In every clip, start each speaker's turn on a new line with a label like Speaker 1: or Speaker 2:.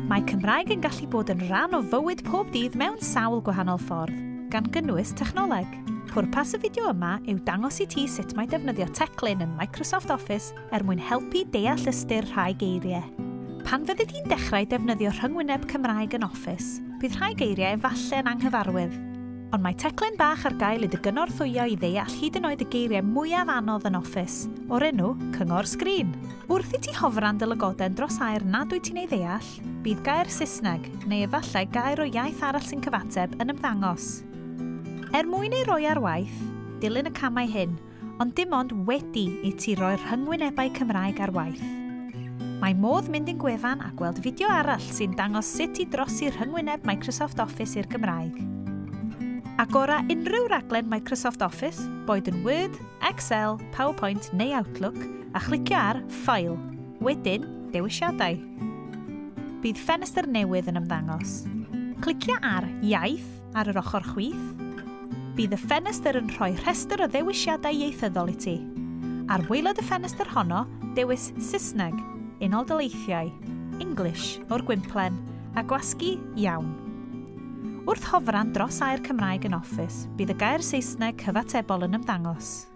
Speaker 1: Mae Cymraeg yn gallu bod yn rhan o fywyd pob dydd mewn sawl gwahanol ffordd, gan gynnwys technoleg. Pwrpas y fideo yma yw dangos i ti sut mae defnyddio teclyn yn Microsoft Office er mwyn helpu deall ystyr rhai geiriau. Pan fyddi di'n dechrau defnyddio rhyngwyneb Cymraeg yn Office, bydd rhai geiriau efallai yn anghyfarwydd. Ond mae teclyn bach ar gael i dy gynorthwyo i ddeall hyd yn oed y geiriau mwyaf anodd yn Office, o'r enw Cyngor Sgrin. Wrth i ti hofran dy lygoden dros air nad wyt ti'n ei ddeall, bydd gair Saesneg, neu efallai gair o iaith arall sy'n cyfateb, yn ymddangos. Er mwyn ei roi ar waith, dilyn y camau hyn, ond dim ond wedi i ti roi'r rhyngwynebau Cymraeg ar waith. Mae modd mynd i'n gwefan a gweld fideo arall sy'n dangos sut i drosi rhyngwyneb Microsoft Office i'r Gymraeg. Agora unrhyw raglen Microsoft Office, boed yn Word, Excel, PowerPoint neu Outlook, a chlicio ar File, wedyn Dewisiadau. Bydd ffenestr newydd yn ymddangos. Clicio ar Iaith ar yr ochr chwith, bydd y ffenestr yn rhoi rhestr o ddewisiadau ieithyddol i ti. Ar waelod y ffenestr honno, dewis Saesneg, Unol Daleithiau, English, o'r gwymplen, a gwasgu Iawn. Wrth hofran dros Air Cymraeg yn Office, bydd y gair Saesneg cyfatebol yn ymddangos.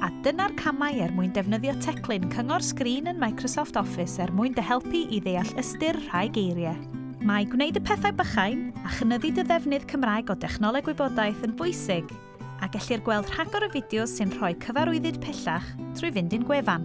Speaker 1: A dyna'r camau er mwyn defnyddio teclyn cyngor sgrin yn Microsoft Office er mwyn dy helpu i ddeall ystyr rhai geiriau. Mae gwneud y pethau bychain a chynyddu dy ddefnydd Cymraeg o dechnoleg wybodaeth yn bwysig, a gellir gweld rhagor o fideos sy'n rhoi cyfarwyddyd pellach trwy fynd i'n gwefan.